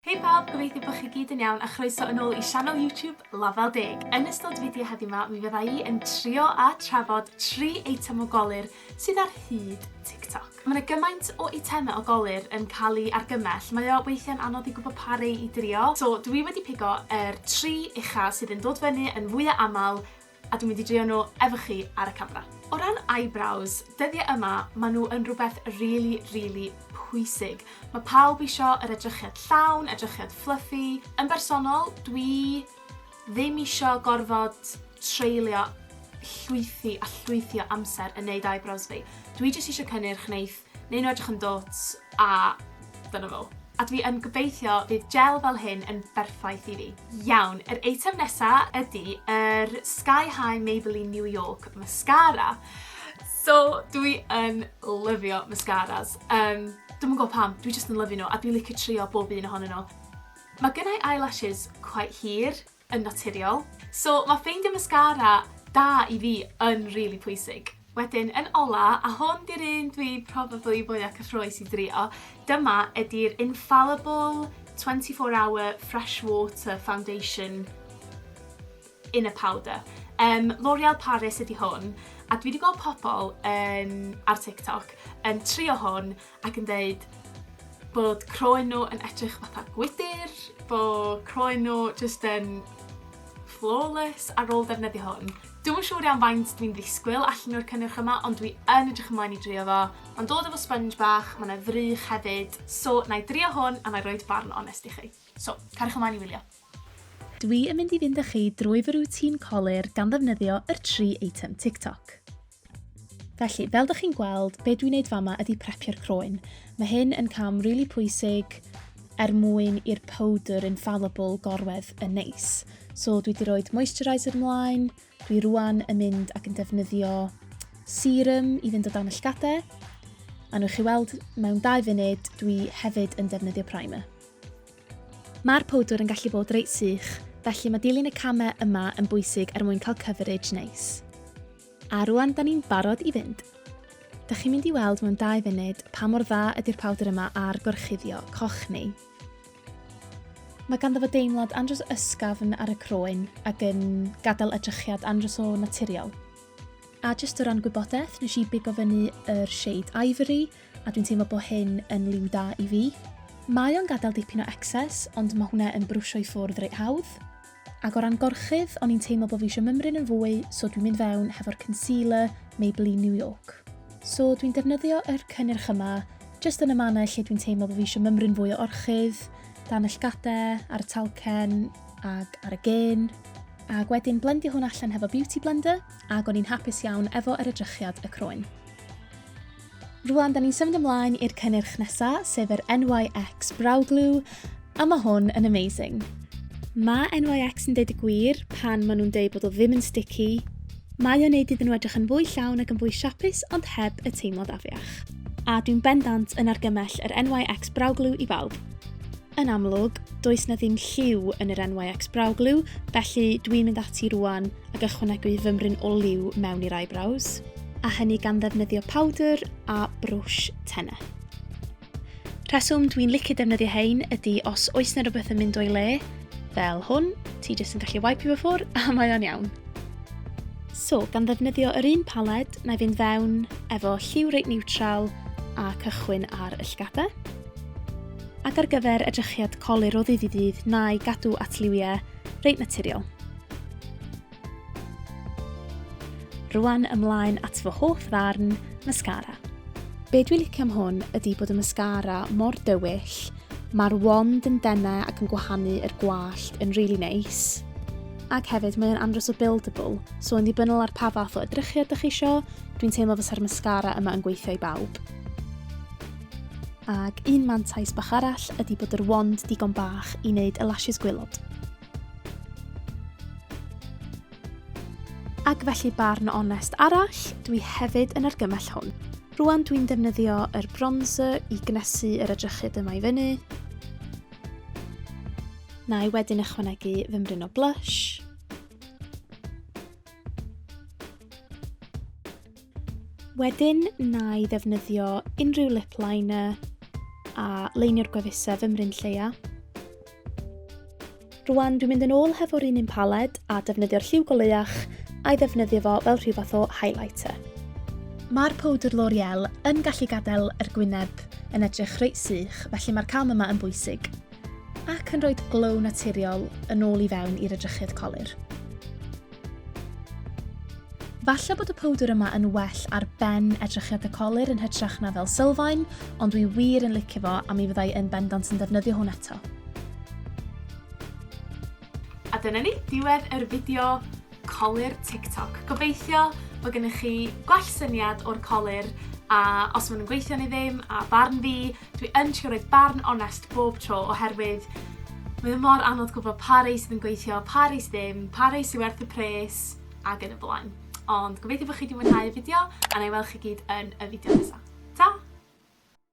Hei pawb, gobeithio bod chi gyd yn iawn a chroeso yn ôl i sianel YouTube Lafel Deg. Yn ystod fideo heddiw 'ma mi fydda i yn trio a trafod tri eitem o golur sydd ar hyd TikTok. Ma' 'na gymaint o eitemau o golur yn cael eu argymell, mae o weithiau'n anodd i gwybod pa rei i drio, so dwi wedi pigo yr tri ucha sydd yn dod fyny yn fwya' aml, A dwi'n mynd i drio nhw efo chi ar y camera. O ran eyebrows, dyddiau yma, maen nhw yn rhywbeth rili, rili pwysig. Mae pawb isio yr edrychiad llawn, edrychiad fluffy. Yn bersonol, dwi ddim isio gorfod treulio llwythi a llwythi o amser yn neud eyebrows fi. Dwi jyst isio cynnyrch neith Newn nhw edrych yn dwt a dyna fo. A dwi yn gobeithio fydd gel fel hyn yn berffaith i fi. Iawn, yr eitem nesa ydi yr Sky High Maybelline New York Mascara. So, dwi yn lyfio mascaras. Um, Dwi'm yn gwybod pam, dwi jyst yn lyfio nhw a dwi'n licio trio bob un ohonyn nhw. Mae gynnau eyelashes quite hir, yn naturiol. So ma' ffeindio mascara da i fi yn rili pwysig. Wedyn yn ola, a hwn 'di'r un dwi probably fwya cyffrous i drio, dyma ydi'r Infallible 24 Hour Fresh Water Foundation in a powder. Um, L'Oreal Paris ydi hwn, a dwi wedi gweld pobl yn, ar TikTok yn trio hwn ac yn deud bod croen nhw yn edrych fatha gwydr, bod croen nhw jyst yn flawless ar ôl defnyddio hwn. Dwi'm yn siŵr iawn faint dwi'n ddisgwyl allan o'r cynnyrch yma, ond dwi yn edrych ymlaen i drio fo. Mae'n dod efo sponge bach, mae yna ddrych hefyd, so na i drio hwn a na i roed barn onest i chi. So, cariwch ymlaen i wylio. Dwi yn mynd i fynd â chi drwy fy routine colur gan ddefnyddio yr tri eitem TikTok. Felly, fel dych chi'n gweld, be dwi'n neud fama ydy prepio'r croen. Mae hyn yn cam really pwysig er mwyn i'r powdr infallible gorwedd yn neis. So dwi wedi rhoi moisturiser mlaen, Dwi rwan yn mynd ac yn defnyddio serum i fynd o dan y llgadau. A nhw'ch chi weld, mewn dau funud, dwi hefyd yn defnyddio primer. Mae'r powdwr yn gallu bod reit sych, felly mae dilyn y camau yma yn bwysig er mwyn cael coverage neis. A rwan, da ni'n barod i fynd. Da chi'n mynd i weld mewn dau funud pa mor dda ydy'r powdr yma ar gorchuddio coch ni. Mae ganddo fo deimlad andros ysgafn ar y croen ac yn gadael edrychiad andros o naturiol. A jyst o ran gwybodaeth, nes i bigo fyny yr shade Ivory a dwi'n teimlo bod hyn yn liw da i fi. Mae o'n gadael dipyn o excess ond mae hwnna yn brwsio i ffwrdd reit hawdd. Ac o ran gorchudd, o'n i'n teimlo bod fi eisiau mymryn yn fwy, so dwi'n mynd fewn hefo'r concealer Maybelline New York. So dwi'n defnyddio yr cynnyrch yma, jyst yn y mannau lle dwi'n teimlo bod fi eisiau mymryn fwy o orchudd, dan y llgadau, ar y talcen, ac ar y gên. Ac wedyn blendio hwn allan hefo Beauty Blender, ac o'n i'n hapus iawn efo yr edrychiad y croen. Rwan, da ni'n symud ymlaen i'r cynnyrch nesa, sef yr NYX Brow Glue, a mae hwn yn amazing. Mae NYX yn deud y gwir pan maen nhw'n deud bod o ddim yn sticky. Mae o'n neud iddyn nhw edrych yn fwy llawn ac yn fwy siapus, ond heb y teimlad afiach. A dwi'n bendant yn argymell yr NYX Brow Glue i bawb. Yn amlwg, does na ddim lliw yn yr NYX Brow Glue, felly dwi'n mynd ati rwan ac ychwanegu fymryn o liw mewn i'r eyebrows, a hynny gan ddefnyddio powdr a brwsh tenne. Rheswm dwi'n licio defnyddio hein ydy os oes na rhywbeth yn mynd o'i le, fel hwn, ti jyst yn gallu wipe fy ffwr a mae o'n iawn. So, gan ddefnyddio yr un paled, na i fynd fewn efo lliw reit niwtral a cychwyn ar y llgadau. Ac ar gyfer edrychiad colur o ddydd i ddydd na'i gadw at liwiau reit naturiol. Rwan ymlaen at fy hoff ddarn, mascara. Be dwi'n licio am hwn ydy bod y mascara mor dywyll, mae'r wand yn denau ac yn gwahanu yr gwallt yn really nice, ac hefyd mae'n andros o buildable, so yn ddibynnol ar pa fath o edrychiad ydych chi eisiau, dwi'n teimlo fysa'r mascara yma yn gweithio i bawb. Ac un mantais bach arall ydy bod yr wand digon bach i wneud y lashes gwylod. Ac felly barn onest arall, dwi hefyd yn argymell hwn. Rwan dwi'n defnyddio yr bronzer i gnesu yr edrychyd yma i fyny. Na i wedyn ychwanegu fy mryn o blush. Wedyn na i ddefnyddio unrhyw lip liner a leinio'r gwefusau fy mryn lleia. Rwan dwi'n mynd yn ôl hefo'r un un paled a defnyddio'r lliw goleuach a'i ddefnyddio fo fel rhyw fath o highlighter. Mae'r powdr L'Oreal yn gallu gadael yr gwyneb yn edrych reit sych, felly mae'r cam yma yn bwysig, ac yn rhoi glow naturiol yn ôl i fewn i'r edrychydd colur. Falle bod y powdr yma yn well ar ben edrychiad y colir yn hytrach na fel sylfaen, ond dwi wir yn licio fo a mi fyddai yn bendant yn defnyddio hwn eto. A dyna ni, diwedd yr fideo colir TikTok. Gobeithio bod gennych chi gwell syniad o'r colir a os maen nhw'n gweithio neu ddim a barn fi Dwi yn trio roid barn onest bob tro oherwydd mae o mor anodd gwybod pa rei sydd yn gweithio, pa rei sydd ddim, pa rei sydd werth y pres, ac yn y blaen. Ond gobeithio bod chi wedi mwynhau y fideo, a na i weld chi gyd yn y fideo nesaf. Ta!